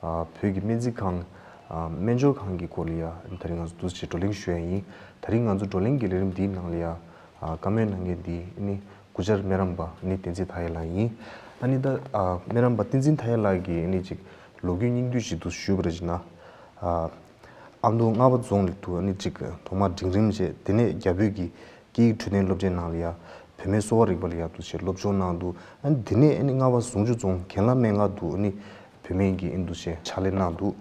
བོད་ཀྱི་སྨན་རྩིས་ཁང། སྨན་སྦྱོར་ཁང་གི་སྐོར་ལ་ཡ། ད་རིང་ང་ཚོ་འདུ་བྱེད་བགྲོ་གླེང་ཞུ་ཡ་ཡིན། ད་རིང་ང་ཚོ་བགྲོ་གླེང་གི་ལས་རིམ་འདིའི་ནང་ལ་ཡ། བཀའ་མོལ་གནང་མཁན་འདི་ནི་གུ་ཅར་སྨན་རམས་པ་ནི་བསྟན་འཛིན་དྷ་ཡེ་ལགས་ཡིན། ཨ་ནི་ད། སྨན་རམས་པ་བསྟན་འཛིན་དྷ་ཡེ་ལགས་ཀྱི་ཨ་ནི་ཅིག་ལོ་རྒྱུས་སྙིང་བསྡུས་ཞིག་འདུ་ཞུ་བར་བྱེད་ན། ཨ་མདོ་རྔ་བ་རྫོང་ལི་ཐུ་ཨ་ནི་ཅིག་ཐོག་མར་འབྲིང་རིམ་བྱས་དེ་ནས་རྒྱ་བོད་ཀྱི་སྐད་ཡིག་འཕྲོད་བསྟེན་སློབ་ཆེན་ནང་ལ་ཡ། བུད་མེད་གསོ་བ་རིག་པ་ལ་ཡ་འདུ་བྱེད་སློབ་སྦྱོང་གནང་འདུག་ཨ་ནི་དེ་ནས་ཨ་ནི་རྔ་བ་ཟུང་ཆུ་རྫོང་གན་ལ་སྨན་ཁང་དུ་ཨ་ནི། བུད་མེད་ཀྱི་ཨིན་དུ་ཞེས་ཕྱག་ལས་གནང་འདུག་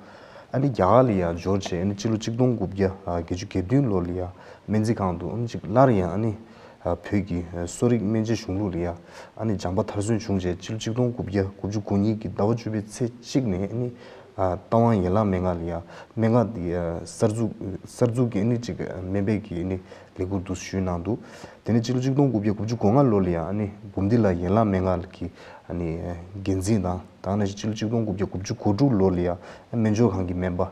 ཨ་རི་རྒྱ་གར་ལ་ཡང་འབྱོར་རྗེས་སྤྱི་ལོ་གཅིག་སྟོང་དགུ་བརྒྱ་བརྒྱད་ཅུ་གྱ་བདུན་ལོར་ལ་ཡ་སྨན་རྩིས་ཁང་དུ་ཨུམ་གཅིག་སླར་ཡང་བོད་ཀྱི་གསོ་རིག་སྨན་དཔྱད་གཞུང་ལུགས་ལ་ཡ་སྦྱངས་པ་མཐར་སོན་བྱུང་རྗེས་སྤྱི་ལོ་གཅིག་སྟོང་དགུ་བརྒྱ་དགུ་བཅུ་དགུ་ཉིན་གྱི་ཟླ་བ་བཅུ་པའི་ཚེས་གཅིག་ནས་རྟ་དབང་ཡན་ལག་མན་ངག་ལ་ཡ་སྨན་ངག་གསར་འཛུགས་ཀྱི་གཅིག་སྨན་པའི་གི་ལས་ཁུར་དུ་ཞུས་གནང་འདུག་དེ་ནས་སྤྱི་ལོ་གཅིག་སྟོང་དགུ་བརྒྱ་དགུ་བཅུ་གོ་ལྔ་ལོར་ལ་ཡ་འབུམ་སྡེ་ལ་ཡན་ལག་མན་ངག་གི་འགན་འཛིན་དང། ད་ནས་ཕྱི་ལོ་གཅིག་སྟོང་དགུ་བརྒྱ་དགུ་བཅུ་གོ་དྲུག་ལོ་ལ་ཡང་སྨན་སྦྱོར་ཁང་གི་སྨན་པ།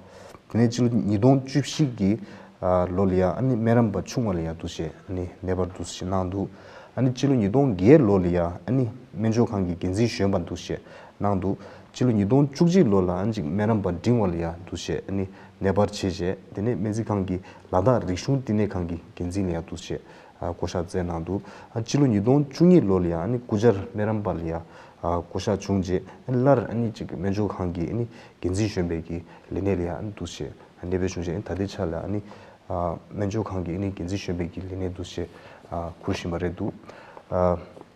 དེ་ནས་ཕྱི་ལོ་ཉིས་སྟོང་བཅུ་བཞི་གི་ལོ་ལ་ཡང་སྨན་རམས་པ་ཆུང་བ་ལ་ཡང་འདུ་བྱེད་མེད་པར་འདུ་བྱེད་གནང་འདུག་ཕྱི་ལོ་ཉིས་སྟོང་བརྒྱད་ལོ་ལ་ཡང་སྨན་སྦྱོར་ཁང་གི་འགན་འཛིན་གཞོན་པར་འདུ་བྱེད་གནང་འདུག་ཕྱི་ལོ་ཉིས་སྟོང་བཅུ་གཅིག་ལོ་ལ་ཅིག་སྨན་རམས་པ་འབྲིང་བ་ལ་ཡང་འདུ་བྱེད་མེད་པར་བྱས་རྗེས་དེ་ནས་སྨན་རྩིས་ཁང་གི་ལ་དྭགས་རིག་གཞུང་བསྟི་གནས་ཁང་གི་འགན་འཛིན་ལ་ཡང་འདུ་བྱེད་བསྐོ་གཞག་མཛད་གནང་འདུག་སྤྱི་ལོ་ཉིས་སྟོང་བཅུ་གཉིས་ལོ་ལ་ཡང་སྐུ་བཅར་སྨན་རམས་པ་ལ་ཡང་བསྐོ་གཞག་བྱུང་རྗེས་སླར་སྨན་སྦྱོར་ཁང་གི་འགན་འཛིན་གཞོན་པའི་གི་ལས་གནས་ལ་ཡང་འདུ་བྱས་གནས་སྤོས་བྱུང་རྗེས་ད་ལྟའི་ཆ་ལ་སྨན་སྦྱོར་ཁང་གི་འགན་འཛིན་གཞོན་པའི་གི་ལས་གནས་འདུ་བྱེད་འཁུར་བཞིན་པ་རེད་འདུག་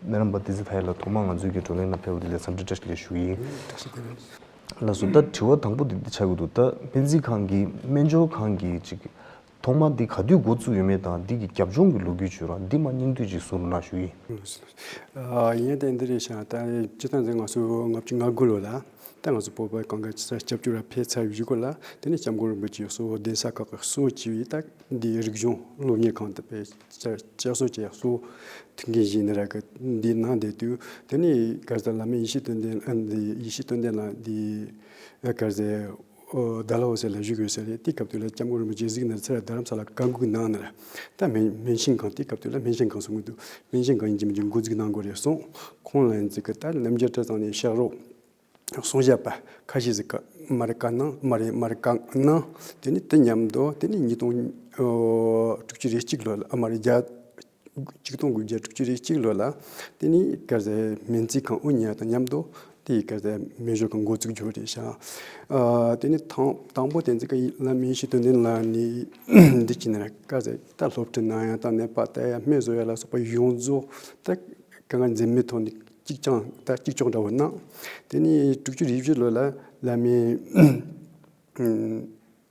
སྨན་རམས་པ་ཏི་ཙི་ཐའི་ལ་ཐོག་མར་ང་ཚོའི་གི་བགྲོ་གླེང་ནང་ཕེབས་བ་དེ་ལས་འཚམས་འདྲི་བཀྲ་ཤིས་བདེ་ལེགས་ཞུ་ཡིན། བཀྲ་ཤིས་བདེ་ལེགས། ལགས་སོ་ད་དྲི་བ་དང་པོ་དེ་འདི་ཆགས་ཀྱི་འདུག་ད་སྨན་རྩིས་ཁང་གི་སྨན་སྦྱོར་ཁང་གི་ཅིག་ཐོག་མར་འདི་ག་དུས་འགོ་བཙུགས་ཡོད་མེད་དང་འདི་གི་རྒྱབ་ལྗོངས་ཀྱི་ལོ་རྒྱུས་བརྗོད་རོགས་འདི་མ་སྙིང་བསྡུས་ཅིག་གསུང་རོགས་གནང་ཞུ་ཡི། ཡིན་ཏེ་འདི་རེད་ཤག་ད་སྤྱི་ཐང་འདི་ང་ཚོ་ལྔ་བཅུ་ང་དགུ་ལོ་ལ་ད་ང་ཚོ་སྤོ་པའི་གང་ག་ས་སྐྱབས་བཅོལ་ལ་ཕེབས་ཚར་བཞུགས་སྐོར་ལ་དེ་ནས་སྐྱབས་མགོན་རིན་པོ་ཆེ་གསོལ་བ་གདན་ས་ཁག་གི་གསོལ་བ་བྱས་པའི་རྟགས་འདིའི་རིག་གཞུང་སློབ་གཉེར་ཁང་དུ་ཕེབས་ཚར་བཅའ་གསོལ་བྱས་གསོལ་ཐུགས་འགན་བཞེས་ནས་ར་གི་འདི་གནང་བསྡད་དུས་དེ་ནས་དཀར་ཟལ་བླ་མའི་ཡེ་ཤེས་སྟོན་ལྡན་ཡེ་ཤེས་སྟོན་ལྡན་ལགས་འདི་དཀར་ཟལ། བདག་ལ་འོ་ཟེར་ལས་བཞུགས་ཡོད་ཟེར། དེའི་སྐབས་དུས་ལ་སྐྱབས་མགོན་རིན་པོ་ཆེ་གཟིགས་ནས་ཚེ་ལ་རྡ་རམ་ས་ལ་བཀའ་འགུགས་གནང། ནར་ལྟ་སྨན་ཤིང་སྒང་དེའི་སྐབས་དུས་ལ་སྨན་ཤིང་སྒང་སུ་ངུ་འདུག་སྨན་ཤིང་སྒང་ཡིན་གྱི་མིན་གྱི་མགོ་འཛུགས་གནང་དགོས་རེད་གསུངས། ཁོང་ལ་འཛིགས་སྐབས་ལྟར་རྣམ་རྒྱལ་བཀྲ་བཟང་ནས་ཤག་རོགས། གསུང་བཤད་པ། ཁ་ཤས་ཟིག་མར་བཀའ་གནང་མར་རེད་མར་བཀའ་གནང། དེ་ནས་དེ་མཉམ་དུ་དེ་ནས་ཉིས་སྟོང་དྲུག་ཅུ་རེ་གཅིག་ལོ་ལ་མར་རྒྱ། གཅིག་སྟོང་དགུ་བརྒྱ་དྲུག་ཅུ་རེ་གཅིག་ལོ་ལ། དེ་ནི་སྐལ་བཟང་སྨན་རྩིས་ཁང་དབུ་བརྙེས་དང་མཉམ་དུ་དེའི་སྐལ་བཟང་སྨན་གཞུང་གི་འགོ་ཚུགས་རྒྱུ་རེད། དེ་ནི་དང་པོ་བསྟན་འཛིན་དཀར་ཡིད་བླ་མའི་ཞི་དོན་ལྡན་ལགས་ནི་འདི་བྱས་ནས་སྐལ་བཟང་ཨི་ལྟར་སློབ་ཁྲིད་གནང་ཡང་དང་ནད་པ་དར་ཡང་སྨན་བཟོ་ཡ་ལ་སོགས་པ་ཡོངས་རྫོགས་ད་ག་ང་འཛེམ་མེད་ཐོག་ནས་གཅིག་རྐྱང་ད་གཅིག་ལྕོགས་འདྲ་བོ་གནང། དེ་ནི་དྲུག་ཅུ་རེ་བཞི་ལོ་ལ་བླ་མའི།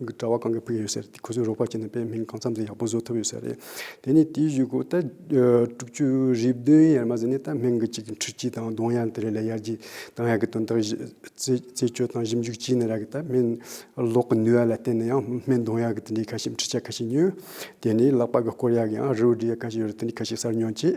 གྲྭ་བ་གང་གི་བུ་ཡོད་ཟེར་ཁོ་ཚོས་རོགས་པ་བྱས་ནས་དཔེ་མིང་གང་འཚམ་ཟིག་ཡག་པོ་བཟོ་ཐུབ་ཡོད་ཟེར་རེད། དེ་ནས་དེའི་བཞུགས་སྒོ་ད་དྲུག་ཅུ་རེ་བདུན་ཡར་མ་ཟིན་ནས་ད་སྨད་དགུ་གཅིག་ཁྲི་གཅིག་དང་གདོང་ཡར་དེ་རེ་ལས་ཡར་རྒྱས་དང་ཡག་གི་དོན་དག་བརྩད་གཅོད་དང་ཞིབ་འཇུག་བྱས་ནས་རག་གི་ད་སྨད་གློག་གི་ནུས་བ་ལ་བརྟེན་ནས་ཡང་སྨད་གདོང་ཡར་གི་དེ་འདྲའི་ཁ་ཞིབ་འཕྲི་བྱ་ཁ་ཞིག་ཉོས། དེ་ནས་ལག་པ་གི་སྐོར་ཡག་གི་ཡང་རི་བོ་འདྲའི་ཡག་ག་ཞིག་ཡོད་རེད་དེ་འདྲའི་ཁ་ཞིག་གསར་ཉོ་བྱས།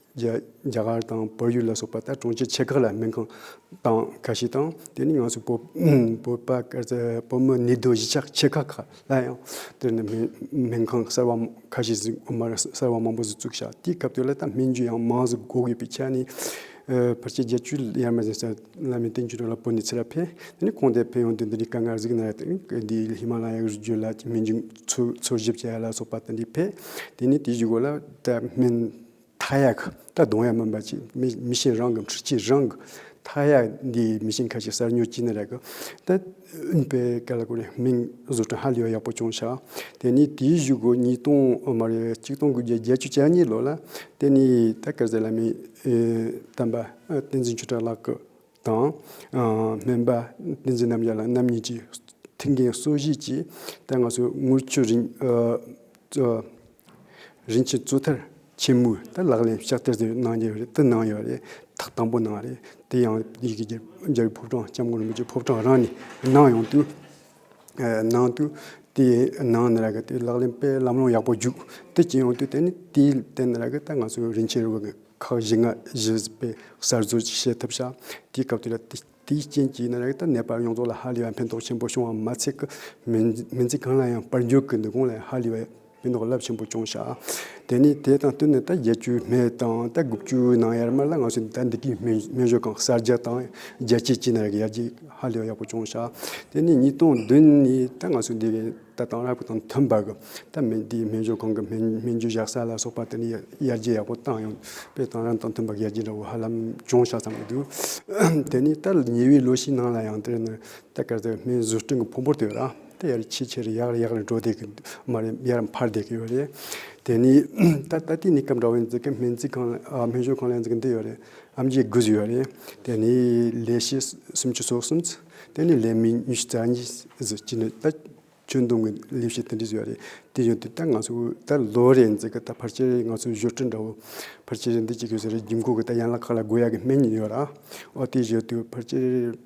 རྒྱ་གར་དང་བལ་ཡུལ་ལ་སོགས་པ་ལྟར་གྲོང་ཁྱེར་ཆེ་ཁག་ལ་སྨན་ཁང་དང་ཁ་ཤས་དང་དེ་ནི་ང་ཚོ་བོད་པ་སྐལ་བཟང་བོད་མི་ནི་རྡོ་གཞིས་ཆགས་ཆེ་ཁག་ཁག་ལ་ཡང་དེར་ནི་སྨན་ཁང་གསར་བ་ཁ་ཤས་བཟོས་མ་རེད་གསར་བ་མང་པོ་བཙུགས་ཤག་དེའི་སྐབས་དེ་ལ་ད་སྨན་རྒྱུ་ཡང་མང་ཟིག་གོ་གི་པའི་ཆ་ནི་ཕར་ཆེར་བརྒྱད་ཅུ་ཡར་མར་ཟིན་ས་བླ་མའི་བསྟན་བཅོས་ར་ལ་བོད་ནས་ཚེ་རབས་འཕེལ་དེ་ནི་གོང་དེ་ཕེབས་ཡོང་དུས་འདི་ནི་དཀའ་ངལ་གཟིགས་ན་ཡག་དེ་འདི་ཧི་མ་ལ་ཡའི་རི་རྒྱུད་ལ་སྨན་རྒྱུ་འཚོལ་ཞིབ་བྱས་ལ་སོགས་པ་ད་འདི་ཕེབས་དེ་ནི་དེའི་བཞུགས་སྒོ་ལ་ད་སྨན་མཐའ་ཡག་ད་གདོང་ཡག་མིན་པ་ཅིག་མི་ཤེས་རང་གི་འཁྲུལ་ཆས་རང་གི་མཐའ་ཡག་འདི་མི་ཤེས་ཁ་ཅིག་གསར་ཉོ་གྱིས་ནི་རེད་གི་ད་ཨུན་པའི་སྐད་ལ་གོ་ནས་མིང་བཟོ་སྐྲུན་ཧ་ལས་པ་ཡག་པོ་ཅུང་ཆགས་དེ་ནི་དེའི་བཞུགས་སྒོ་ཉིས་སྟོང་ཨ་མ་རེད་གཅིག་སྟོང་དགུ་བརྒྱ་བརྒྱད་ཅུ་གྱ་གཉིས་ལོ་ལ་དེ་ནི་ད་སྐལ་བཟས་ལ་མི་བསྟན་པ་བསྟན་འཛིན་ཆོས་གྲགས་ལགས་ཀྱི་དང། སྨན་པ་བསྟན་འཛིན་རྣམ་རྒྱལ་ལགས་རྣམ་གཉིས་ཀྱིས་ཐེངས་འགའི་གསོལ་བཞེས་ཀྱི་ཐད་ང་ཚོས་དངུལ་ཆུ་རིན་རིན་ཆེན་གཙོས་ཐལ་ཆེན་མོའི་ཐད་ལག་ལེན་ཕྱག་བསྟར་དེ་གནང་རྒྱུ་དེ་གནང་ཡོད་རེད་ཐག་དང་པོ་གནང་རེད་དེ་ཡང་ཡི་གེ་རྒྱལ་པོའི་ཕོ་བྲང་ལྕམ་སྐུ་རིན་པོ་ཆེའི་ཕོ་བྲང་རང་ནས་གནང་ཡོང་དུས། ནང་དུ་དེའི་ནང་ནས་ར་གི་དེ་ལག་ལེན་དཔེ་ལམ་ལོང་ཡག་པོ་བརྒྱུད་དེ་སྤྱི་ཡོངས་དུ་བསྟན་ནས་དེའི་སྟེང་ནས་ར་གི་ད་ང་ཚོ་རིན་ཆེན་རུ་བ་གི་ཁག་བཞི་ལྔ་བཞི་པའི་གསར་བཟོ་ཅིག་བྱེད་ཐབས་བྱ། དེའི་སྐབས་དེ་ལ་དེའི་རྐྱེན་གྱིས་ན་ར་གི་ད་ནད་པ་ཡོངས་རྫོགས་ལ་ཧ་ལས་པ་ཕན་ཐོགས་ཆེན་པོ་བྱུང་བ་མ་ཚད་ཀི་མི་མི་ཚེ་གང་ལ་ཡང་དཔལ་འབྱོར་གི་ནུས་ཁུངས་ལ་ཡང་ཧ་ལས་པ། མི་ནག་རླབས་ཆེན་པོ་སྐྱོང་བྱ། དེ་ནས་དེ་དང་བསྟུན་ནས་ད་བརྒྱད་ཅུའི་སྨད་དང་ད་དགུ་བཅུའི་ནང་ཡར་མར་ལ་ང་ཚོས་ད་འདི་གའི་སྨན་བཞུགས་ཁང་གསར་རྒྱག་དང་རྒྱལ་སྤྱིའི་སྤྱི་ནང་ཡར་རྒྱས་ཧ་ལས་པ་ཡག་པོ་སྐྱོང་བྱ། དེ་ནས་ཉིས་སྟོང་བདུན་ནས་ད་ང་ཚོས་འདི་གའི་ད་དེང་རབས་དང་མཐུན་པར་གྱི་ད་སྨན་འདི་གའི་སྨན་བཞུགས་ཁང་གི་སྨན་རྒྱུ་བཞག་ས་ལ་སོགས་པ་དེ་ནས་ཡར་རྒྱས་ཡག་པོ་བཏང་ཡོང་བས་དེང་རབས་དང་མཐུན་པར་ཡར་རྒྱས་འདྲ་བོ་ཧ་ལམ་སྐྱོང་བྱ་ཙམ་གྱི་འདུག་དེ་ནས་ད་ཉེ་བའི་ལོ་ཞིག་ནང་ལ་ཡང་དེ་ནི་ད་ག་ཚོད་སྨན་བཟོ་སྐྲུན་གྱི་ཕུང་པོ་དེ་ར། དབྱར་ཕྱི་ཆེ་རེ་ཡག་རེ་ཡག་རེ་འགྲོ་བསྡད་ཀྱི་འདུག་མ་རེད་དབྱར་འཕར་བསྡད་ཀྱི་ཡོད་རེད། དེ་ནས་ད་ལྟ་དེ་ནས་སྐབས་འདྲ་བོ་ནས་འཛིན་ཁང་སྨན་རྩིས་ཁང་སྨན་ཞོར་ཁང་ལ་འཛིན་གྱི་འདུག་ཡོད་རེད། ཨམ་རྗེས་དགུ་བཞི་ཡོད་རེད། དེ་ནས་ལས་བྱེད་སུམ་ཅུ་སོ་གསུམ། དེ་ནས་ལས་མི་ཉི་ཤུ་རྩ་གཉིས། གཅིག་ནས་ད་ཁྱོན་བསྡོམས་ཀྱི་ལས་བྱེད་དེ་འདྲས་ཡོད་རེད། དེ་ཡོད་དུས་ད་ང་ཚོ་ད་ལོ་རེ་འཛིན་གྱི་ད་ཕར་ཆེར་རེ་ང་ཚོ་བཞུར་ཁྲི་འདྲ་བོ། ཕར་ཆེར་རེ་འདི་གཅིག་ཡོད་ཟེར་རེ་རྒྱུན་གོས་ཀྱི་ད་ཡན་ལག་ཁག་ལ་དགོས་ཡག་གི་སྨན་ཡོད་ར། ཨོ་དེ་ཡོད་དུས་ཕར་ཆེར།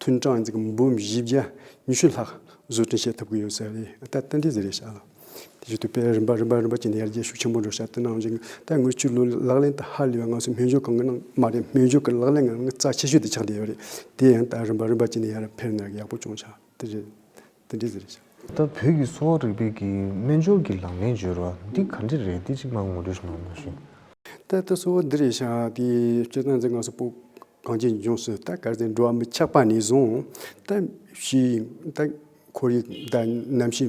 ཐུན་གྲངས་འཛིན་གྱི་འབུམ་བཞི་བརྒྱ་ཉི་ཤུ་ལྷག་བཟོ་སྐྲུན་བྱེད་ཐུབ་ཀྱི་ཡོད་ཟེར་ཏེ་ཏན་ཏན་བཟོས་རེས་བྱས། དེ་བཞིན་དུ་དཔེར་རིམ་པ་རིམ་པ་རིམ་པ་བྱས་ནས་ཡར་རྒྱས་ཤུགས་ཆེན་པོ་འགྲོ་བྱ་དེ་གནང་ཞིང་ད་སྔོན་ཆུ་ལུད་ལག་ལེན་དང་ཧ་ལས་པའི་ང་ཚོའི་སྨན་སྦྱོར་གང་གི་ནང་མ་རེད་སྨན་སྦྱོར་གྱི་ལག་ལེན་ང་རང་གི་རྩ་ཆེ་ཤོས་དེ་ཆགས་བསྡད་ཡོད་རེད་དེ་ཡང་ད་རིམ་པ་རིམ་པ་བྱས་ནས་ཡར་འཕེར་ནས་ཡག་པོ་བྱུང་བྱ་དེ་རེད། དེ་འདྲས་ཟེར་ཞིང། ད་བོད་ཀྱི་གསོ་བ་རིག་པའི་གི་སྨན་སྦྱོར་གྱི་ལག་ལེན་སྦྱོར་བ་འདི་ག་འདྲས་རེད་དེ་གཅིག་མ་ངོ་སྤྲོད་གནང་ན་ཞུ། ད་ལྟ་གསོ་བ་འདི་རེད་ཤག་དེ་སྤྱིར་བཏང་འཛིན་སྐབས་སུ་པོ་གང་ཅིའི་འབྱུང་སྲོལ་ད་གར་ཟེར་འགྲོ་བ་མི་ཆགས་པ་ནས་བཟུང་ད་ཤི་ཡིན་ད་འཁོར་ཡིན་ད་ནམ་ཤི་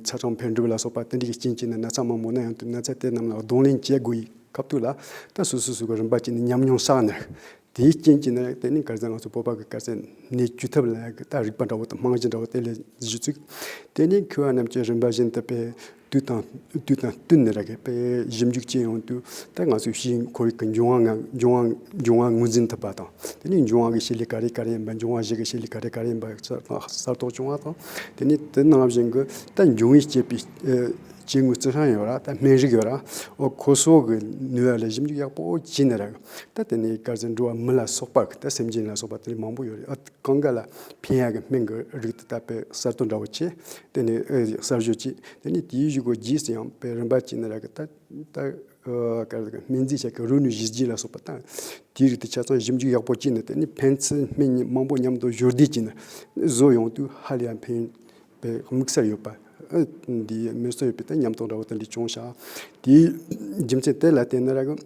ཚ་གྲང་འཕེལ་འགྲིབ་ལ་སོགས་པ་དེ་འདྲས་ཀྱི་རྐྱེན་གྱིས་ན་ན་ཚ་མང་པོ་ན་ཡང་དུས་ན་ཚ་དེ་རྣམས་ལ་གདོང་ལེན་བྱེད་དགོས་ཡི་སྐབས་དུས་ལ་ད་སོ་སོའི་སུ་ག་རིམ་པ་ཅིག་ནས་ཉམས་མྱོང་བསགས་ནས་དེའི་རྐྱེན་གྱིས་ན་དེ་ནི་དཀར་ཟལ་ང་ཚོའི་སྤོབས་པ་གི་དཀར་ཟལ་ནས་བསྐྱུར་ཐབས་ལ་རྟགས་རིགས་པ་འདྲ་བོ་དང་རྨང་གཞི་འདྲ་བོ་དེ་ལས་བཞི་བཅུ། དེ་ནས་ཁུ་བ་རྣམས་ཀྱི་རིམ་པ་བཞིན་དུ་པས་དུས་དང་བསྟུན་ནས་ར་གས་པས་གཞི་མཇུག་ཅི་ཡོང་དུས་ད་ང་ཚོའི་གཤིས་ཁོར་ཡུག་གི་འབྱུང་བ་ངོས་འཛིན་ཐུབ་པ་དང་དེ་ནས་འབྱུང་བ་གི་ཤེལ་ལི་ག་རེ་ག་རེ་ཡིན་པ་འབྱུང་བ་བཞི་གི་ཤེལ་ལི་ག་རེ་ག་རེ་ཡིན་པ་གསར་རྟོགས་བྱུང་བ་དང་དེ་ནས་དེ་ནང་བཞིན་གྱི་ད་འབྱུང་བའི་སྐྱེས་པའི་སྐྱེ་དངོས་རྩི་ཤིང་ཡོད་ར་ད་སྨན་རིགས་ཡོད་ར་འོ་ཁོ་སོགས་ཀྱི་ནུས་བ་ལས་གཞི་མཇུག་ཡག་པོ་བྱས་ནས་ར་གས་ད་དེ་ནས་དཀར་རྩི་འབྲུ་བ་མི་ལ་སོགས་པ་ད་སེམས་ཅན་ལ་སོགས་པ་དེ་མང་པོ་ཡོད་རེད་ཨ་གང་ག་ལ་ཕན་ཡག་གི་སྨན་གི་རིགས་དེ་དག་པའི་གསར་གཏོད་འདྲ་བོ་བྱས་དེ་ནས་གསར་བཞུགས་ཀྱིས་དེ་ནས་དེའི་བཞུགས་སྒོ་རྗེས་སུ་ཡང་པའི་རིམ་པ་བྱས་ནས་རག་གི་ད་ད་ག་རེད་སྨན་རྫས་ཆ་གི་རུ་ནུས་བཞི་བརྒྱད་ལ་སོགས་པ་ད་དེའི་རིགས་དེ་ཆ་ཚང་ཞིབ་འཇུག་ཡག་པོ་བྱས་ནས་དེ་ནས་ཕན་ཚུན་སྨན་གཉིས་མང་པོ་མཉམ་དུ་བཞུར་བསྡེབས་བྱས་ནས་བཟོ་ཡོང་དུས་ཧ་ལས་ཡང་ཕན་པའི་དམིགས་བསལ་ཡོད་པ་འདིའི་སྨན་གསོ་ཡོད་པའི་ད་ཉམས་རྟོགས་འདྲ་བོ་ད་འདི་ཅུང་ཞག་དེའི་རྒྱུ་མཚན་དེ་ལ་བརྟེན་ནས་རག་གི།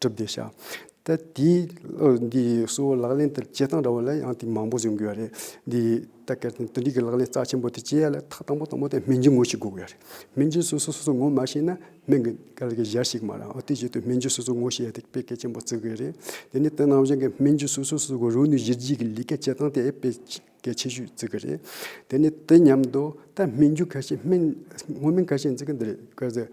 གྲུབ་བདེ་ཤ་ད་དེའི་འདི་གསོ་བོ་ལག་ལེན་དེ་བྱེད་སྟངས་འདྲ་བོ་ལ་ཡང་དེ་མང་པོ་བཟོས་འགོད་ཡ་རེད་འདི་ད་གལ་ཏེ་འདི་འདྲིས་ཀྱི་ལག་ལེན་རྩ་ཆེན་པོ་དེ་བྱེད་ཡ་ལ་ཐག་དང་པོ་དང་པོ་དེ་སྨན་རྒྱུ་ངོ་ཤེས་དགོས་ཀྱི་ཡ་རེད་སྨན་རྒྱུ་སོ་སོ་སོ་སོ་ངོ་མ་ཤེས་ན་སྨན་གྱི་ག་ལ་གི་གཞར་ཞིག་མ་རང་དེ་བྱེད་དུས་སྨན་རྒྱུ་སོ་སོ་ངོ་ཤེས་ཡ་དེ་དཔེ་གལ་ཆེན་པོ་བརྩི་དགོས་ཡ་རེད་དེ་ནས་དེ་ནང་བཞིན་གྱི་སྨན་རྒྱུ་སོ་སོ་སོ་སོ་གི་རོ་ནུས་གཞིར་བྱས་ཀྱི་ལས་ཀ་བྱེད་སྟངས་དེ་དཔེ་གལ་ཆེ་ཤོས་བརྩི་གི་རེད་དེ་ནས་དེ་མཉམ་དུ་ད་སྨན་རྒྱུ་ག་ཤེད་སྨན་སྔོ་སྨན་ག་ཤེད་འཛིན་གྱི་འདི་རེད་ག་ཚད་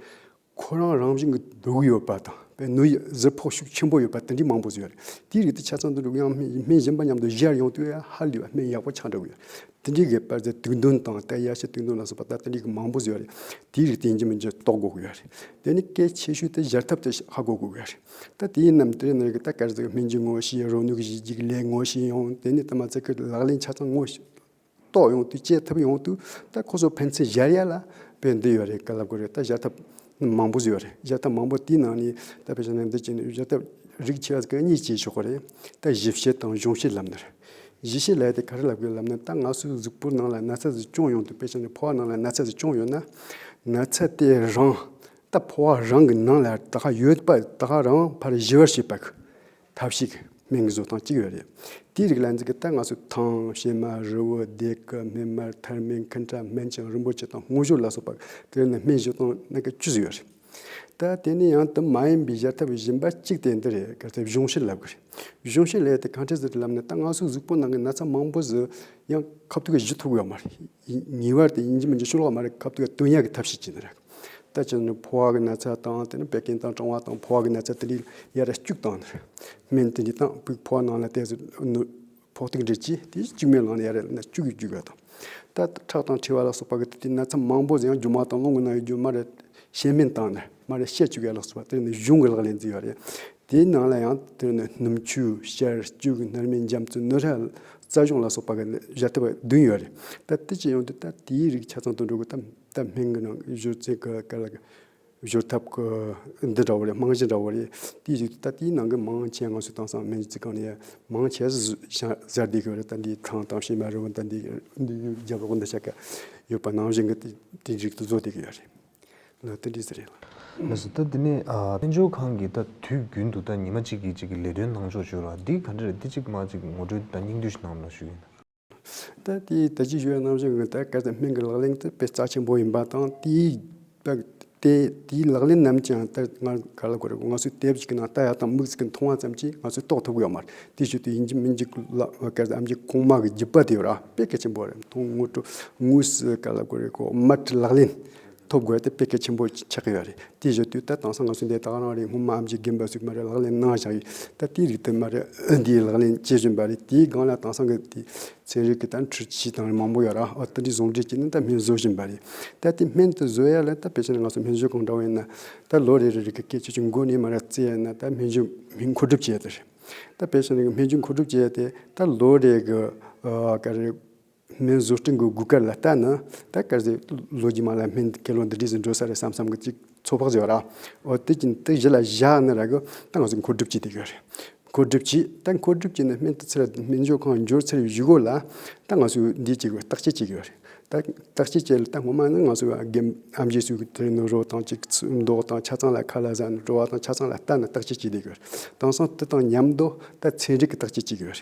ཁོ་རང་རང་བཞིན་གྱི་འདོད་དགུ་ཡོད་པ་དང་བའི་ནུ་ཡི་གཟུགས་ཕོག་ཤུགས་ཆེན་པོ་ཡོད་པ་དེ་འདྲའི་མང་པོ་བཟོས་ཡོད། དེའི་རིགས་དེ་ཆ་ཚང་དུ་འགྲོ་གིན་ཡང་སྨན་གཞན་པ་མཉམ་དུ་གཞིར་ཡོང་དུས་ཧ་ལས་པ་སྨན་ཡག་པོ་ཆགས་འདྲ་གི་ཡོད། དེ་འདྲའི་གི་པར་ཙེ་དུག་འདོན་དང་དལ་ཡ་ཤེས་དུག་འདོན་ལ་སོགས་པ་དང་དེ་འདྲའི་གི་མང་པོ་བཟོས་ཡོད། དེའི་རིགས་དེ་འཇིག་མི་འཇིག་རྟོགས་དགོས་ཀྱི་ཡོད། དེ་ནི་གལ་ཆེ་ཤོས་དེ་གཞིར་ཐབས་དེ་ཧ་གོ་དགོས་ཀྱི་ཡོད། ད་དེའི་རྣམས་དེ་རྣམས་ཀྱི་ད་སྐར་ཚོགས་སྨན་གྱི་ངོ་ཤེས་རོ་ནུས་ཀྱི་གཞི་གཅིག་ལས་ངོ་ཤེས་ཡང་དེ་ནི་ད་མ་ཚད་ཀྱི་ལག་ལེན་ཆ་ཚང་ངོ། ཏོག་ཡོང་དུས་སྐྱེ་ཐབས་ཡོང་དུས་ད་ཁོ་ཚོ་ཕན་ཚུན་བཞར་ཡ་ལ་བས་འདི་ཡོད་རེད་ག་ལ་དགོས་རེད་ད་བཞར་ཐབས་མང་པོ་ཡོད་རེད་བཞར་ཐབས་མང་པོ་དེའི་ནང་ནས་ད་བཞར་ན་འདི་སྐྱེས་ནས་བཞར་ཐབས་རིགས་ཆེ་བ་གང་གཉིས་སྐྱེས་ཆོག་གོ་རེད་ད་བཞི་བཤད་དང་གཞུང་བཤད་ལབ་ན་རེད། བཞི་བཤད་ལས་དེ་ག་རེ་ལབ་དགོས་ལབ་ན་ད་ང་ཚོའི་གཟུགས་པོ་ནང་ལ་ན་ཚ་ཟིག་ཅུང་ཡོང་དུས་དཔེ་ཆ་ནས་ཕོ་བ་ནང་ལ་ན་ཚ་ཟིག་ཅུང་ཡོད་ན། ན་ཚ་དེ་རང་ད་ཕོ་བ་རང་གི་ནང་ལ་ད་ག་ཡོད་པ་ད་ག་རང་ཕར་བཞི་བར་བྱེད་པ་གི། ཐབས་ཤེས་ཀྱི་སྨན་གྱི་བཟོ་སྟངས་གཅིག་རེད། དེའི་རིགས་ལ་འཛིན་གྱི་རྟགས་ལྔ་སུ་ཐང། ཤེལ་མ། རི་བོ། རྡེལ་ཀི། སྨན་མར། ཐར་སྨན། མཁན་ཁྲ། སྨན་ཆང་རིན་པོ་ཆེ་དང་སྔོ་ཞོ་ལ་སོགས་པ་ཀྱི་ནང་སྨན་བཞི་སྟོང་སྣ་ག་བཅུ་ཟིན་ཡོད་རེད། ད་དེ་ནི་ཡང་དུ་མ་ཡིན་པའི་བཞེར་ཐབས་གཞན་པ་གཅིག་དེ་འདི་རེད་གལ་ཏེ་གཞུང་བཞེས་ལབ་གི་རེད། གཞུང་བཞེས་ལས་དེ་གང་འཕྲལ་ཟིན་ཏེ་ལབ་ན་རྟགས་ལྔ་སུ་གཟུགས་པོ་ནང་གི་ན་ཚ་མང་པོ་ཟི་ཡང་ཁབ་ཐུག་གི་གཞི་ཐུག་ཡོད་མ་རེད། ཉེ་བར་དེ་ཡིན་གྱི་མིན་གྱི་ཤུ་ལོག་མ་རེད་ཁབ་ཐུག་གི་དོན་ཡག་གི་ཐབས་ཤེས་ཅི་ནི་རེད། དེ་ཕྱིར་ནི་འཕོ་བ་གི་ན་ཚ་དང་དེ་ནི་བད་ཀན་དང་གྲང་བ་དང་འཕོ་བ་གི་ན་ཚ་དེ་ལས་ཡར་རེ་བཅུག་དང། སྨན་དེ་འདི་དང་བུག་ཕོག་ནང་ལ་བལྟས་སུ་ནུ། ཕོག་ཐུག་འདྲེས་ཀྱིས་དེ་བཅུག་མའི་ནང་ལ་ཡར་རེ་ན་བཅུག་གིས་བརྒྱུས་པ་དང། ད་ཁྲག་དང་མཁྲིས་པ་ལ་སོགས་པ་གི་དེ་དེའི་ན་ཚ་མང་པོ་ཡང་རྒྱུ་མ་དང་རླུང་གི་ནང་གི་རྒྱུ་མ་རེ་བཤལ་སྨན་དང་ནི་མ་རེ་བཤལ་བཅུག་གི་ཡར་ལོགས་སུ་བ་དེར་ནི་གཞུང་གི་ལག་ལེན་འཛིན་པ་རེ། དེའི་ནང་ལ་ཡང་དེར་ནི་སྣུམ་ཆུ་བཤལ་བཅུག་གི་སྣར་མའི་འཇམ་རྩི་སྣོད་ཧྲལ་རྩ་གཞུང་ལ་སོགས་པ་གི་ནི་གཞལ་ཐུབ་པ་བདུན་ཡོད་རེད། ད་དེ་ཅི་ཡང་དུ་ད་དེའི་རིགས་ཆ་ཚང་དུ་འགྲོ་དགོས་དམ། ད་སྨན་གྱི་ནང་གི་གཞུ་རྩི་གི་སྐད་ལ་གཞུ་ཐབ་ཀྱི་འདི་འདྲ་བོ་རེད་རྨང་གཞི་འདྲ་བོ་རེད་དེའི་རིགས་ད་དེའི་ནང་གི་མང་ཆེ་ང་ཚོས་བཏང་སང་སྨན་རྩིས་ཁང་ནས་མང་ཆེ་བཟའ་བཟའ་བསྡད་གི་རེད་ད་འདིའི་ཐང་བཏང་ཕྱི་མ་རེད་བོ་ད་འདི་རྒྱབ་ལོག་འདི་ཆ་ཀ་ཡོད་པ་ནང་བཞིན་གྱི་དེའི་རིགས་དུ་བཟོ་བསྡད་གི་ཡོད་རེད། ལ་ད་འདི་ཟེར་རེད་ལ། ལ་སོ་ད་འདི་ནས་སྨན་སྦྱོར་ཁང་གི་ད་དུས་རྒྱུན་དུ་ད་ཉི་མ་གཅིག་གིས་གཅིག་གི་ལས་དོན་གནང་ཕྱོགས་བྱོས་ལ་འདི་ག་འདྲ་རེད་འདི་གཅིག་མ་གཅིག་ངོ་སྤྲོད་ད་སྙིང་བསྡུས་ཤིག་གནང་རོགས་གནང་ཞུ་ཡིན། ད་ལྟའི་བདེ་སྐྱིད་ཤོས་རྣམ་གཞག་གི་ཐད་ཀར་དེ་སྨན་གྱི་ལག་ལེན་དེ་དཔེ་རྩ་ཆེན་པོ་ཡིན་པ་དང་དེའི་ལག་ལེན་རྣམས་ཀྱང་ད་སྔར་ག་ལ་དགོས་རེད་ང་ཚོའི་དེབ་ཅིག་གི་ནང་ལྟ་ཡག་དང་མིག་ཅིག་གིས་མཐོང་བ་ཙམ་གྱིས་ང་ཚོས་རྟོགས་ཐུབ་ཡོད་མ་རེད་དེ་བཞིན་དུ་ཡིན་གཅིག་མིན་གཅིག་ལ་སྐལ་ལྡན་ཨམ་ཆིའི་གོང་མ་གི་རྒྱུད་པ་དེ་ཡོད་ར་དཔེ་གལ་ཆེན་པོ་རེད་དོན་དངོས་ལ་དངོས་སུ་ག་ལ་དགོས་རེད་ཁོ་དམར་ཁྲིད་ལག་ལེན་ཐོབ་དགོས་ཏེ་དཔེ་གལ་ཆེན་པོ་ཆགས་ཀྱི་ཡོད་རེད་དེ་བཞིན་དུ་ད་དང་སང་ང་ཚོ་འདི་དག་རང་རེ་སྔོན་མ་ཨམ་ཆིའི་རྒན་པ་ཟིག་མ་རེད་ལག་ལེན་གནང་བཞག་ཡོད་ད་དེའི་རིགས་དེ་མ་རེད་འདིའི་ལག་ལེན་བྱེད་བཞིན་པ་རེད་དེའི་སྒང་ལ་དང་སང་གི་དེ་ཚན་རིག་གི་ད་འཕྲུལ་ཆས་དང་རེ་མང་པོ་ཡོད་ར་ཨོ་ད་འདི་ཟུང་འབྲེལ་གྱིས་ནི་ད་སྨན་བཟོ་བཞིན་པ་རེད་ད་དེ་སྨན་དེ་བཟོ་ཡ་ལ་ད་བེད་སྤྱད་ན་ང་ཚོ་སྨན་བཟོ་གང་འདྲ་བོ་ཡིན་ན་ད་ལོ་རེ་རེ་རེ་གི་སྐད་ཆ་ཆུ་མགོ་ནས་མ་རེད་བརྩི་ཡ་ན་ད་སྨན་བཅོས་སྨན་མཁོ་སྒྲུབ་བྱེད་ཡ་ད་རེད་ད་བེད་སྤྱད་ན་སྨན་བཅོས་མཁོ་སྒྲུབ་བྱེད་ཡ་དེ་ད་ལོ་རེ་གི་ཀ་རེ། སྨན་བཟོ་སྐྲུན་གྱི་དགོས་གལ་ལ་ལྟ་ན་ད་ག་ཟེ་ལོ་རྒྱུས་མ་ལ་སྨན་དགེ་སློང་འདི་འདྲས་སུ་འགྲོ་ས་རེད་བསམ་བསམ་གྱིས་ཅིག་ཚོད་དཔག་བྱེད་པ་ར་འོ་དེ་ཀྱིན་དེ་གཞི་ལ་བཞག་ནས་ར་གི་ད་ག་ཟེ་མཁོ་སྒྲུབ་བྱས་ཏེ་ག་རེད་མཁོ་སྒྲུབ་བྱས་ད་མཁོ་སྒྲུབ་བྱས་ནས་སྨན་དུ་ཚེ་ར་སྨན་སྦྱོར་ཁང་འབྱོར་ཚེ་ར་བཞི་གོ་ལ་ད་ང་སུ་འདི་བྱེད་གི་བརྟག་དཔྱད་བྱེད་གི་ར་རེད་ད་བརྟག་དཔྱད་བྱས་ལ་ད་སྔོན་མ་ནི་ང་སུ་རྒན་ཨ་མཇེ་སུ་དེ་རིང་ནི་རོ་དང་ཅིག་མདོག་དང་ཆ་ཚང་ལ་ཁ་ལ་ཟ་ནི་བྲོ་བ་དང་ཆ་ཚང་ལ་ལྟ་ནི་བརྟག་དཔྱད་བྱེད་དེ་ག་རེད་དེང་སང་དེ་དང་ཉམས་མདོག་ད་ཚན་རིག་གི་བརྟག་དཔྱད་བྱེད་གི་ར་རེད་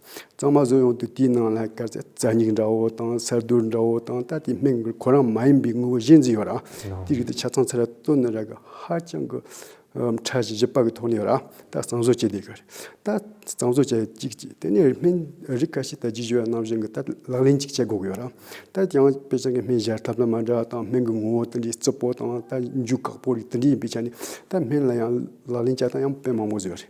གཙང་མ་བཟོ་ཡང་དུ་དེའི་ནང་ལ་སྐར་ཚ་སྙིགས་འདྲ་བོ་དང་གསར་རྡུལ་འདྲ་བོ་དང་ད་ལྟའི་སྨན་གྱི་ཁོ་རང་མ་ཡིན་པའི་དངོས་པོ་བཞི་འཛིན་ཡོད་ར། དེ་རིགས་དེ་ཆ་ཚང་ཚད་ལ་བཏོན་ན་ར་གི་ཧ་ཅང་གི་ཕྲ་བཞི་བཞི་པ་གི་ཐོག་ནས་ཡོད་ར། ད་གཙང་བཟོ་བྱེད་བསྡད་གི་རེད། ད་གཙང་བཟོ་བྱས་གཅིག་གཅིག་དེ་ནས་སྨན་རིགས་ཁ་ཤས་ད་རྗེས་བཞུགས་ཡ་རྣམས་བཞིན་གྱི་ད་ལག་ལེན་གཅིག་བྱེད་དགོས་གི་ཡོད་ར། ད་དེ་ཡང་དཔེ་ཆ་གི་སྨན་བཞར་ཐབས་ལ་མ་འདྲ་བ་དང་སྨན་གྱི་ངོ་བོ་དེ་འདྲའི་རྩི་པོ་དང་ད་འཇུ་བཀག་པོ་རིགས་དེ་འདྲའི་ཡིན་པའི་ཆ་ནས་ད་སྨན་ལ་ཡང་ལག་ལེན་བྱ་སྟངས་ཡང་དཔེ་མང་པོ་བཟོས་རེད།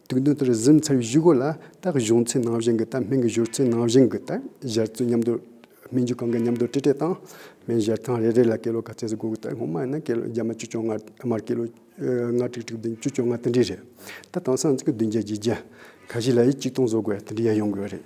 དུག་མདུན་དུ་གཟིམས་ཚར་བའི་གཞུག་གུ་ལ་སྟག་གཞུང་ཚིགས་ནང་བཞིན་གྱི་སྟབས་སྨན་གྱི་བཞུར་ཚུལ་ནང་བཞིན་གྱི་སྟབས་བཞར་ཚུལ་མཉམ་དུ། སྨན་རྒྱུ་གང་གི་མཉམ་དུ་ཏྲི་ཏྲི་བཏང། སྨན་བཞར་ཐང་རེ་རེ་ལ་ཀི་ལོ་ག་ཚད་སུ་དགོས་ཀྱི་སྟབས་སྔོན་མ་ཡིན་ན་ཀི་ལོ་བརྒྱ་མ་བཅུ་བཅོ་ལྔ་མར་ཀི་ལོ་ལྔ་ཁྲིག་ཁྲིག་བདུན་བཅུ་བཅོ་ལྔ་དེ་འདྲའི་རེད། ད་དེང་སང་ཚིགས་བདུན་བརྒྱད་བརྒྱའི་རྒྱལ་ཁ་ཞིག་ལ་ཡིས་གཅིག་སྟོང་བཟོ་དགོས་པ་དེ་འདྲའི་ཡ་ཡོང་གི་ཡོད་རེད།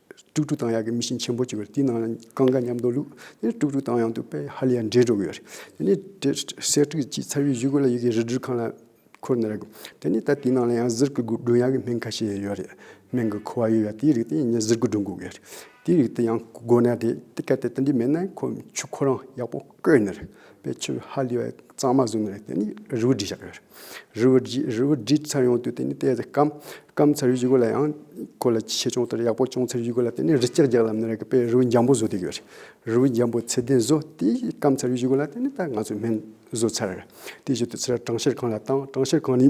ཀྲུག་ཀྲུག་དང་ཡག་གི་མི་ཤིང་ཆེན་པོ་གཅིག་ཡོད་དེའི་ནང་ལ་རྐང་འགའ་མཉམ་འདུག་ལུགས་དེ་ནས་ཀྲུག་ཀྲུག་དང་ཡང་དུ་དཔེ་ཧ་ལས་ཡ་འདྲེས་འགྲོ་གི་ཡོད་རེད་དེ་ནས་དེ་གསེར་ཁྲི་གཅིག་ཚར་བའི་གཞུག་གི་ལ་ཡོད་གི་རི་སྦྲུལ་ཁང་ལ་འཁོར་ནས་རེད་དེ་ནས་ད་དེའི་ནང་ལ་ཡང་གཟིར་གི་སྒྲུང་ཡག་གི་སྨན་ཁ་ཤས་ཡང་ཡོད་རེད་སྨན་གི་ཁུ་བ་ཡོད་ཡ་དེའི་རིགས་དེ་ངས་གཟིར་གི་སྒྲུང་གི་ཡོད་རེད་དེའི་རིགས་དེ་ཡང་དགོས་ན་རེད་དེ་གལ་ཏེ་དེ་འདྲའི་མེད་ན་ཁོ་ཆུ་ཁོ་རང་ཡག་པོ། བཀོད་ནས་རེད། དཔེ་ཆུ་ཧ་ལས་པ་གཙང་མ་བཟོས་ནས་རེད་དེ་ནི་རི་བོ་འབྲི་བཞག་རེད། རི་བོ་འབྲི་རི་བོ་འབྲི་ཚར་ཡོང་དུས་དེ་ནི་གཏད་དེ་སྐམ། སྐམ་ཚར་བཞུགས་གོ་ལ་ཡང་གོ་ལ་ཆེ་ཆུང་ལྟར་ཡག་པོ་བྱུང་ཚར་བཞུགས་གོ་ལ་དེ་ནི་རི་སྐྱག་རྒྱག་ལམ་ནས་རེད་དཔེ་རི་བོ་འཇམ་པོ་བཟོ་དུས་ཡོད་རེད། རི་བོ་འཇམ་པོ་ཚད་ལྡན་བཟོ་དེ་སྐམ་ཚར་བཞུགས་གོ་ལ་དེ་ནི་ད་ང་ཚོས་སྨན་བཟོ་ཚར་རེད། དེ་བཞུགས་དུས་ཚོད་གྲངས་བཤེར་གང་ལ་བཏང་གྲངས་བཤེར་གང་ནི།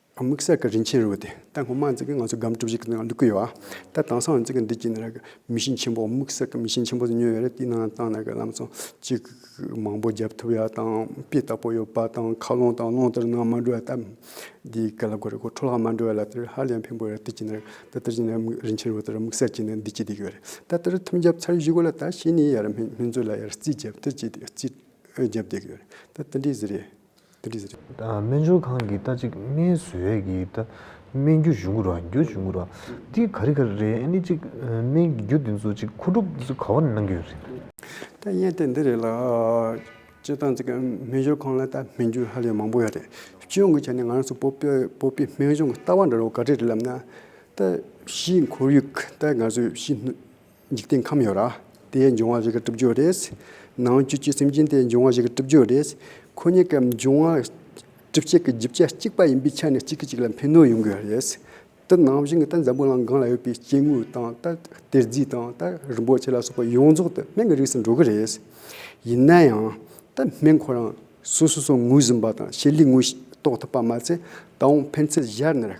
དམིགས་བསལ་གྱི་རིན་ཆེན་རུས་པ་དེ་ལྟ་སྔོན་མ་འཛིན་གྱི་ང་ཚོ་སྒམ་གྲུ་བཞི་གི་ནང་ལུས་ཀྱི་ཡོད་ཨ། ད་དྭངས་སངས་འཛིན་གྱི་འདི་གྱི་ནང་རེ་མི་ཤིང་ཆེན་པོ་དམིགས་བསལ་གྱི་མི་ཤིང་ཆེན་པོ་དེ་ཉོས་ཡོད་རེད་དེའི་ནང་བཏང་ནས་གྱི་ལམ་སང་གཅིག་མང་པོ་བརྒྱབ་ཐུབ་ཡ་དང་དཔེ་ལྟ་པོ་ཡོད་པ་དང་མཁའ་རླུང་དང་རླུང་དེར་ནང་མ་འགྲོ་ཡ་དམ་འདི་གྱི་ལ་གོ་རེ་གོ་འཕྲོ་ལྷག་མ་འགྲོ་ཡ་ལ་དེར་ཧ་ལས་ཡང་ཕན་པོ་རེད་དེ་གྱི་ནང་ད་དེར་གྱི་ནང་རིན་ཆེན་རུས་པ་དེར་དམིགས་བསལ་གྱི་ནི་འདི་གྱི་འདི་གྱི་ཡོད་རེད་ད་དེར་ཐུམ་བརྒྱབ་ཚར་བཞི་གོ་ལ་ད་ཕྱི་ནས་ཡར་སྨན་བཙུན་ལ་ཡར་རྩིས་བརྒྱབ་དེར་གྱི་རྩིས་བརྒྱབ་བསྡད་གྱི་ཡོད་རེད་ད་དེ་འདྲའི་ཟེར་རེད། སྨན་སྦྱོར་ཁང་གི་རྟ་གཅིག་སྨན་ཟོས་ཀྱི་རྟ་སྨན་རྒྱུ་གཞུང་གུ་ར་རྒྱུ་གཞུང་གུ་ར་འདི་ག་རི་ག་རི་རེད་ཨནི་ཅིག་སྨན་གྱི་རྒྱུ་འདི་ཚོ་ཅིག་མཁོ་སྒྲུབ་འདི་ཚོ་ག་བ་ནས་གནང་གི་ཡོད་རེད། རྟ་སྨན་དེ་འདི་རེད་ལ། སྤྱིར་བཏང་ཅིག་སྨན་སྦྱོར་ཁང་ལ་རྟ་སྨན་རྒྱུ་ཧ་ལས་མང་པོ་ཡོད་རེད། སྤྱིར་ཡོང་གི་ཆ་ནས་ང་རང་ཚོ་སྤོ་པའི་སྤོ་པའི་སྨན་གཞུང་གི་རྟ་བ་འདྲ་བོ་ག་རེ་རེད་ལབ་ན། རྟ་བཞི་འཁོར་ཡུག་རྟ་ང་ཚོས་བཞི། འཇིག་རྟེན་ཁམས་ཡོད་ར། དེའི་འབྱུང་བ་བཞི་གི་གྲུབ་རྒྱུ་རེད། ནང་བཅུད་ཀྱི་སེམས་ཅན་དེའི་འབྱུང་བ་བཞི་གི་གྲུབ་རྒྱུ་རེད། ཁོ་གཉིས་ཀའི་འབྱུང་བ་གྲུབ་བྱེད་ཀྱི་རྒྱུ་ཆ་གཅིག་པ་ཡིན་པའི་ཆ་ནས་གཅིག་གིས་གཅིག་ལ་ཕན་གནོད་ཡོང་གི་རེད། དེ་ནང་བཞིན་གྱི་ད་འཛམ་བུ་གླང་གང་ལ་ཡོད་པའི་སྐྱེ་དངོས་དང་ད་གཏེར་རྫས་དང་ད་རིན་པོ་ཆེ་ལ་སོགས་པ་ཡོངས་རྫོགས་དེ་སྨན་གྱི་རིགས་སུ་འགྲོ་གི་རེད། ཡིན་ན་ཡང་ད་སྨན་ཁོ་རང་སོ་སོ་སོ་ངོས་ཟིན་པ་དང་ཤེས་ལས་ངོས་རྟོགས་ཐུབ་པ་མ་ཚད་ད་འོང་ཕན་ཚད་གཞར་ནི་རེད།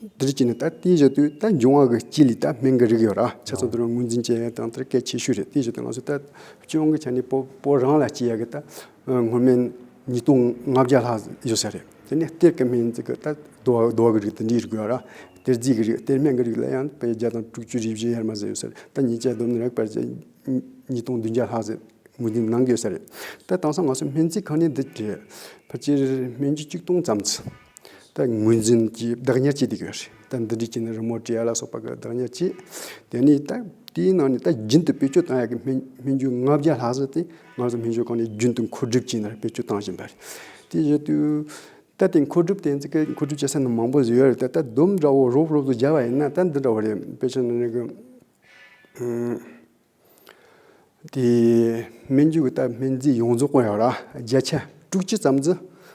འདིར་སྤྱི་ནི་ད་ལྟའི་བཞེད་དུས་ད་འབྱུང་བ་གི་སྤྱི་ལས་ད་སྨན་གི་རིགས་ཡོད་ར་ཆ་ཚང་དུ་རུ་ངོས་འཛིན་བྱེད་དང་དེར་སྐད་ཆེ་ཤོས་རེད་དེའི་བཞེད་དུ་ང་ཚོ་ད་སྤྱི་འོང་གི་ཆ་ནས་པོ་པོ་རང་ལ་སྤྱི་ཡ་གི་ད་ངོ་སྨན་ཉིས་སྟོང་ལྔ་བརྒྱ་ལྷག་ཡོད་ས་རེད་དེ་ནས་གཏེར་གི་སྨན་རྫས་གི་ད་རྡོ་བ་རྡོ་བ་གི་རིགས་དེ་འདྲའི་རིགས་ཡོད་ར་གཏེར་རྫས་གི་རིགས་གཏེར་སྨན་གི་རིགས་ལ་ཡང་པའི་བརྒྱ་དང་དྲུག་ཅུ་རེ་བཞི་ཡར་མ་ཟིན་ཡོད་ས་རེད་ད་ཉིན་བཅས་བསྡོམས་ནས་རག་པར་བྱས་ཉིས་སྟོང་བདུན་བརྒྱ་ལྷག་ཟེར་ངོས་འཛིན་གནང་གི་ཡོད་ས་རེད་ད་དེང་སང་ང་ཚོ་སྨན་རྫས་ཁང་ནི་འདི་རེད་ཕལ་ཆེར་སྨན་རྒྱུ་གཅིག་སྟོང་ཙམ་ཚུད། ད་ངོས་འཛིན་གྱིས་བདག་ཉར་བྱས་ཏེ་ཡོད་རེད་ད་འདི་འདྲའི་ཆེ་ནས་རི་མོ་བྲིས་ཡ་ལ་སོགས་པ་གི་བདག་ཉར་བྱས། དེ་ནས་ད་དེའི་ནང་ནས་ད་རྒྱུན་དུ་བེད་སྤྱོད་བཏང་ཡག་གི་སྨན་སྨན་རྒྱུ་ལྔ་བརྒྱ་ལྷག་ཟེར་ཏེ་ང་ཚོ་སྨན་སྦྱོར་ཁང་ནས་རྒྱུན་དུ་མཁོ་སྒྲུབ་བྱས་ནས་བེད་སྤྱོད་བཏང་བཞིན་པ་རེད། དེ་བཞིན་དུ་ད་དེ་མཁོ་སྒྲུབ་དེ་འཛི་ཀི་མཁོ་སྒྲུབ་བྱེད་ས་ནི་མང་པོ་ཡོད་རེད་ད་ད་དུམ་འདྲ་བོ་རོབ་རོབ་ཏུ་སྦྱར་བ་ཡིན་ན་ད་འདི་འདྲ་བོ་རེད་དཔེ་ཆ་ནི་རེ་གི། དེ་སྨན་རྒྱུ་གི་སྟབས་སྨན་རྫས་ཡོངས་རྫོགས་བཀོལ་ཡོང་ར་བརྒྱ་ཆ་དྲུག་ཅུ་ཙམ་རྫི་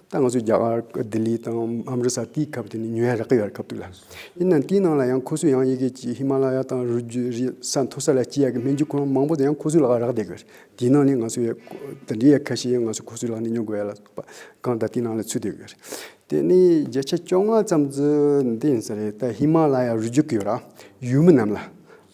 ད་ང་ཚོའི་རྒྱ་གར་ལྡི་ལི་དང་ཨམ་རི་སར་དེའི་ཁབ་དེ་ནས་ཉོས་རག་གི་ཡོད་ར་ཁབ་ཐུག་ལ། ཡིན་ནའང་དེའི་ནང་ལ་ཡང་ཁོ་ཚོས་ཡང་ཡི་གེ་གཅིག་ཧི་མ་ལ་ཡ་དང་རུ་རྒྱུ་རི་ས་མཐོ་ས་ལ་སྐྱེ་ཡག་གི་སྨན་རྒྱུ་ཁོ་རང་མང་པོ་དེ་ཡང་ཁོ་ཚོའི་ལག་རག་བསྡད་གི་ཡོད་ར་དེའི་ནང་ནས་ང་ཚོའི་དེ་འདྲའི་ཡ་ཁ་ཤས་ཡང་ང་ཚོས་ཁོ་ཚོའི་ལག་ནས་ཉོ་དགོས་ཡ་ལ་སོགས་པ་གང་ད་དེའི་ནང་ལ་ཚུད་བསྡད་གི་ཡོད་ར། དེ་ནས་བརྒྱ་ཆ་བཅོ་ལྔ་ཙམ་རྫི་འདི་ཡིན་ས་རེད་ད་ཧི་མ་ལ་ཡ་རུ་རྒྱུག་གི་ཡོད་ར་ཡུལ་མི་རྣམས་ལ་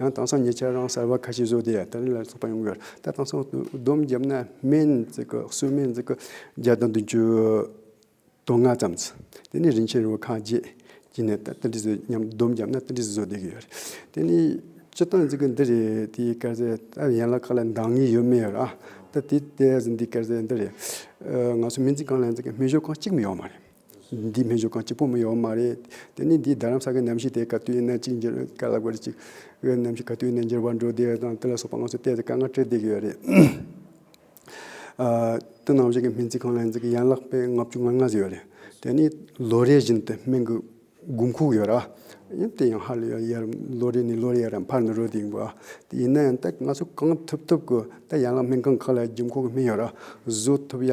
ཡང་དེང་སང་ཉེ་ཆར་རང་གསར་བ་ཁ་ཤས་བཟོས་ཏེ་ཏཱ་ལའི་བླ་རྒན་ཚོགས་པ་ཡོང་གི་ད་དེང་སང་བསྡོམས་བརྒྱབ་ན་སྨན་གསོལ་སྨན་བརྒྱ་དང་བདུན་ཅུ་དོན་ལྔ་ཙམ་དེ་ནས་རིན་ཆེན་རིན་པོ་ཁང་བརྒྱད་ཀྱི་ནས་ཏཱ་ཏཱ་ལི་བཟོས་མཉམ་བསྡོམས་བརྒྱབ་ན་ཏཱ་ལི་བཟོ་བསྡད་ཀྱི་ཡོད་རེད་དེ་ནས་སྤྱི་སྟངས་ཙི་གི་འདི་རེད་དེ་སྐལ་བཟས་ད་ཡན་ལག་ཁག་ལ་འདང་ངེས་ཡོད་མེད་ར་ད་དེ་ལྟས་ཟིན་དེ་སྐལ་བཟས་འདི་རེད་ང་ཚོ་མི་འཛིན་ཁང་ལ་མི་ཞོ་ཁང་གཅིག་མི་ཡོད་མ་རེད། འདིས་སྨན་ཞོ་གང་སྐྱིད་པོ་མི་ཡོང་བ་མ་རེད། དེ་ནི་འདིས་རྡ་རམ་ས་གའི་གནམ་གཤིས་དེ་ག་དུས་ཡིན་ན་ཅིག་འགྱུར་ག་ལ་དགོས་རེད་ཅིག། གནམ་གཤིས་ག་དུས་ཡིན་ན་འགྱུར་བ་འགྲོ་བདེ་བ་དང་དེ་ལ་སོགས་པ་ང་ཚོས་བལྟས་ཏེ་དཀའ་ངལ་སྤྲད་བསྡད་ཀྱི་ཡོད་རེད། དུ་ནང་བཞིན་གྱི་སྨན་རྩིས་ཁང་ལ་འཛིན་གྱི་ཡན་ལག་པས་ལྔ་བཅུ་ང་ལྔ་བཟོས་ཡོད་རེད། དེ་ནི་ལོ་རེ་བཞིན་དུ་སྨན་གྱི་དགུན་ཁུག་ཡོད་ར། དེ་ཡང་ཧ་ལས་ཡར་ལོ་རེ་ནས་ལོ་རེ་ཡར་ཡང་འཕར་འདི་འགྲོ་བསྡད་ཡིན་པ། དེ་ཡིན་ན་ཡང་ད་ང་ཚོས་གང་ཐུབ་ཐུབ་ཀྱིས་ད་ཡན་ལག་སྨན་ཁང་ཁག་ལ་རྒྱུན་འཁོར་གྱི་སྨན་ཡོད་ར་བཟོ་ཐུབ་ཡ།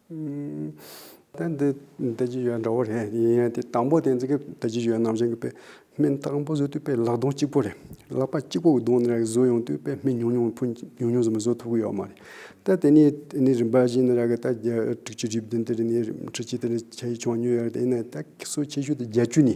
ད་འདི་བདེ་སྐྱིད་ཡོད་འདྲ་བོ་རེད་ཡིན་ཡང་དེ་དང་པོ་དེ་འཛིན་གི་བདེ་སྐྱིད་ཡོད་ནང་བཞིན་གྱི་དཔེ་སྨན་དང་པོ་བཟོས་དུས་དཔེ་ལག་སྡོང་གཅིག་པོ་རེད་ལག་པ་གཅིག་པོ་སྡོང་ནས་བཟོས་ཡོང་དུས་དཔེ་སྨན་ཉུང་ཉུང་ཕུན་ཉུང་ཉུང་ཙམ་བཟོ་ཐུབ་ཀྱི་ཡོད་མ་རེད་ད་དེ་ནས་དེ་ནས་རིམ་པ་བཞིན་ནས་ར་གི་ད་དྲུག་ཅུ་རེ་བདུན་དེ་རེ་ནས་ཁྲི་གཅིག་དེ་རེ་བྱས་ཡོང་ཉུལ་ཡོད་རེད་དེ་ནས་ད་སོ་ཆེ་ཤོས་དེ་བརྒྱད་ཅུ་ནས་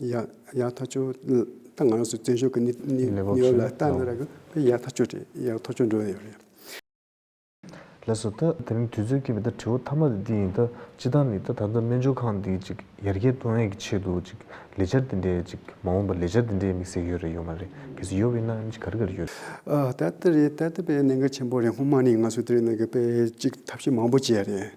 ཡག་ཐག་ཆོད་ད་ང་རང་སུ་བཙན་བྱོལ་གྱི་གནས་བབ་ལ་ལྟ་ན་རག་གི་ཡག་ཐག་ཆོད་རེད་ཡག་ཐག་ཆོད་འགྲོ་ཡི་རེད། ལེགས་སོ་ད་དེ་རིང་དུས་ཚོད་ཀྱི་མེད་ད་དྲི་བ་ཐ་མ་དེ་འདི་ཡིན་ད་སྤྱི་བཏང་ནི་ད་ད་ལྟ་སྨན་སྦྱོར་ཁང་འདི་ཅིག་ཡར་རྒྱས་གཏོང་ཡས་ཀྱི་ཆེད་དུ་ཅིག་ལས་འཆར་དེ་འདྲས་ཅིག་མ་འོངས་པར་ལས་འཆར་དེ་འདྲས་དམིགས་བསལ་ཡོད་རེད་ཡོད་མ་རེད་གལ་སྲིད་ཡོད་པའི་ན་ཅིག་ག་རེ་ག་རེ་ཡོད་རེད། ད་ལྟ་རེད་ད་ལྟ་པའི་གནད་འགག་ཆེན་པོ་རེད་སྔོན་མ་ནི་ང་ཚོ་དེ་རིང་ནང་གི་པའི་ཅིག་ཐབས་ཤེས་མང་པོ་བྱས་རེད་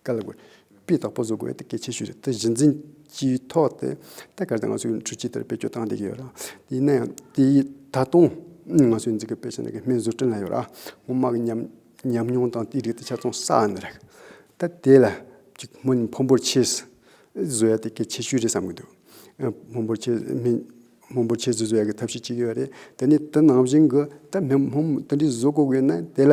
དཀའ་ལ་དགོས་པའི་དོགས་པ་བཟོ་དགོས་གལ་ཆེ་ཤོས་རེད་དེ་གཞི་འཛིན་གྱི་ཐོག་ཏེ། ཐད་ཀར་དུ་ང་ཚོས་འཕྲུལ་ཆས་དེར་བེད་སྤྱོད་བཏང་བསྡད་ཀྱི་ཡོད། ཡིན་ན་ཡང་དེ་ད་དུང་ང་ཚོས་འཛིན་དགོས་པའི་ཆ་ནས་ཀྱི་སྨན་བཟོ་སྐྲུན་ལ་ཡོད་ར་ངོ་དམག་ཉམས་མྱོང་དང་དེའི་རིགས་དེ་ཆ་ཚང་བསགས་ནས་རེད། ད་དེ་ལ་གཅིག་སྨན་ཕོན་པོར་ཆས་བཟོ་ཡ་དེ་གལ་ཆེ་ཤོས་རེད་བསམ་གྱི་འདུག་ཕོན་པོར་ཆས་སྨན་སྨན་ཕོན་ཆས་བཟོ་བཟོ་ཡ་གྱི་ཐབས་ཤེས་གཅིག་ཡོད་རེད་དེ་ནི་དེ་ནང་བཞིན་གྱི་ད་སྨན་ཕོན་དེ་འདྲའི་བཟོ་དགོས་ཀྱི་ཡོད་ན་དེ་ལ་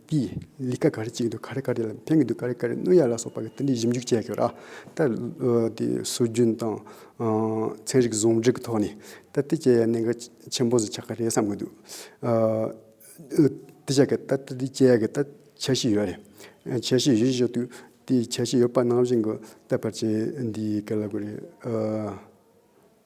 ཀྱིས་ལི་ཀ་ག་རེ་གཅིག་གི་འདུག་ག་རེ་ག་རེ་ལ་འཕེན་གི་འདུག་ག་རེ་ག་རེ་གནོད་ཡ་ལ་སོགས་པ་གི་ཏི་འདྲི་ཞིབ་འཇུག་བྱས་ཀྱི་ར་ད་དེ་སྲོལ་རྒྱུན་དང། ཚན་རིག་ཟུང་འབྲེལ་གྱི་ཐོག་ནས་ད་ཏི་བྱས་ཡ་གནད་འགག་ཆེན་པོ་ཟིག་ཆགས་ཀྱི་རེད་བསམ་གྱི་འདུག་ཏི་བྱས་ཀྱི་ད་ཏི་བྱས་ཡ་གི་ད་འཆར་གཞི་ཡོད་རེད། འཆར་གཞི་ཡོད་བཞིན་ཞོག་དུས་དེའི་འཆར་གཞི་ཡོད་པ་ནང་བཞིན་གྱི་ད་ཕར་ཆེར་འདིའི་ཀ་ལ་དགོས་རེད།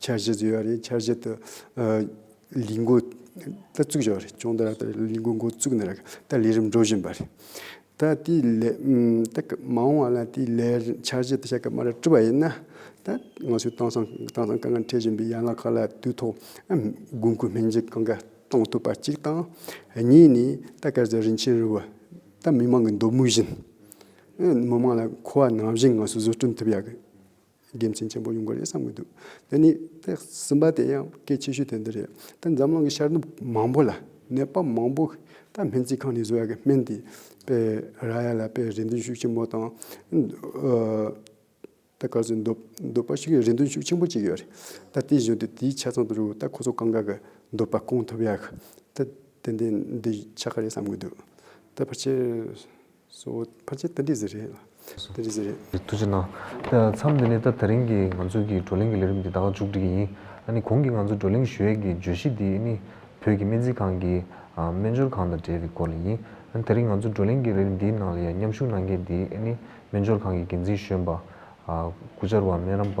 འཆར་གཞི་བཟོས་པ་རེད་འཆར་གཞི་དེ་ལས་འགོ་ད་བཙུགས་བཞག་རེད་ཅུང་ཟད་ལས་འགོ་འགོ་བཙུགས་ནས་ད་ལས་རིམ་འགྲོ་བཞིན་པ་རེད། ད་དེ་ལས་ད་གི་མ་འོངས་བ་ལ་དེ་ལས་འཆར་གཞི་དེ་བྱ་གི་མ་རེད་བཀྲི་བ་ཡིན་ན། ད་ང་ཚོའི་དེང་སང་དེང་སང་དཀའ་ངལ་འཕྲད་བཞིན་པའི་ཡན་ལག་ཁག་ལ་དུས་ཐོག་དགོས་མཁོའི་སྨན་རྫས་གང་ག་གཏོང་ཐུབ་པ་གཅིག་དང། གཉིས་ནི་ད་སྐལ་བཟང་རིན་ཆེན་རིན་བོ་ད་མི་མང་གི་འདོད་མོས་བཞིན། མི་མང་ལ་མཁོ་བ་ནང་བཞིན་ང་ཚོས་བཟོ་སྐྲུན་ཐུབ་ཡག་གི། དགེ་མཚན་ཆེན་པོ་ཡོང་གི་རེད་བསམ་གྱི་འདུག་དེ་ནི་ཐེག་གསུམ་པ་དེ་ཡང་གལ་ཆེ་ཤོས་དེ་འདི་རེད་ད་འཛམ་གླིང་གི་ཤར་ནུབ་མང་པོ་ལ་ནད་པ་མང་པོ་ད་སྨན་རྩིས་ཁང་ནས་བཟོ་བ་གི་སྨན་དེ་སྤེལ་ར་ཡ་ལ་སྤེལ་རེ་འདུན་ཤུགས་ཆེན་པོ་དང། ད་ག་ཚོད་འདོད་འདོད་པ་ཞིག་གི་རེ་འདུན་ཤུགས་ཆེན་པོ་བཅིག་ཡོད་རེད་ད་དེ་བཞིན་དུ་དེའི་ཆ་ཚང་དུ་རུ་ད་ཁོ་ཚོ་གང་ག་གི་འདོད་པ་སྐོང་ཐུབ་ཡག་ད་དེ་འདི་འདི་ཆག་གི་རེད་བསམ་གྱི་འདུག་ད་ཕར་ཆེར། གསོ་བོ། ཕར་ཆེར་ཏན་ཏིག་ཟེར་རེད། ཏན་ཏིག་ཟེར་རེད། ཐུགས་རྗེ་གནང། མཚམས་འདི་ནས་ད་དེ་རིང་གི་ང་ཚོའི་གི་བགྲོ་གླེང་གི་ལས་རིམ་འདི་ད་ང་མཇུག་སྒྲིལ་གྱི་ཡིན། ཨ་ནི་གོང་གི་ང་ཚོའི་བགྲོ་གླེང་ཞུ་ཡས་གི་བརྗོད་གཞི་འདི་ནི་བོད་ཀྱི་སྨན་རྩིས་ཁང་གི་སྨན་སྦྱོར་ཁང་དང་འབྲེལ་བའི་སྐོར་ལ་ཡིན། ཨ་ནི་དེ་རིང་ང་ཚོའི་བགྲོ་གླེང་གི་ལས་རིམ་འདིའི་ནང་ལ་ཡང་མཉམ་ཞུགས་གནང་མཁན་འདི་ཨ་ནི་སྨན་སྦྱོར་ཁང་གི་འགན་འཛིན་གཞོན་པ། སྐུ་བཅར་བ་སྨན་རམས་པ།